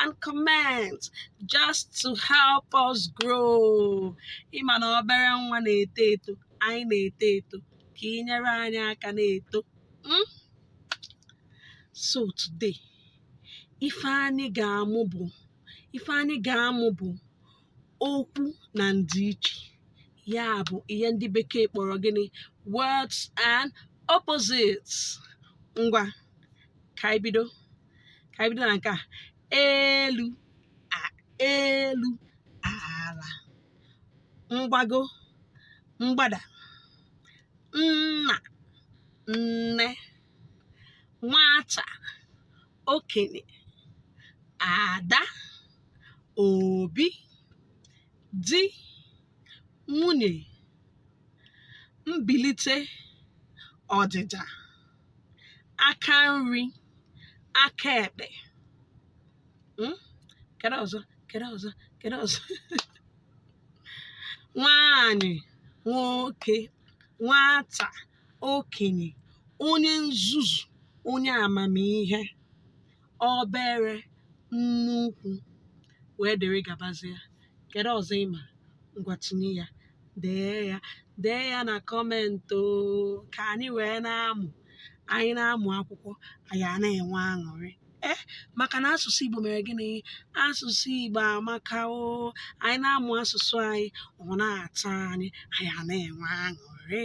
and comment just to help us grow ị ma na obere nwa na-eto eto anyị na-eto eto ka i nyere anyị aka na-eto hmm? so today ife anyị ga-amụ bụ ife anyị ga-amụ bụ okwu na ndịiche ya bụ ihe ndị bekee kpọrọ gịnị words and opposites ngwa ka anyị bido ka anyị bido na nke a elu elu ala mgbago mgbada nna nne nwata okenye ada obi di nwunye mbilite ọdịda aka nri aka ekpe hmm? kedu ọzọ kedu ọzọ kedu ọzọ nwanyị nwoke nwata okenye onye nzuzu onye amamihe obere nnukwu wee dịrị gabazie kedu ọzọ ị ma ngwa tinye ya dee ya dee ya na comment o ka anyị wee na-amụ anyị na-amụ akwụkwọ anyị a na-enwe aṅụrị ee maka na asụsụ igbo mere gịnị asụsụ igbo amaka o anyị na-amụ asụsụ anyị ọ na-atọ anyị anyị a na-enwe aṅụrị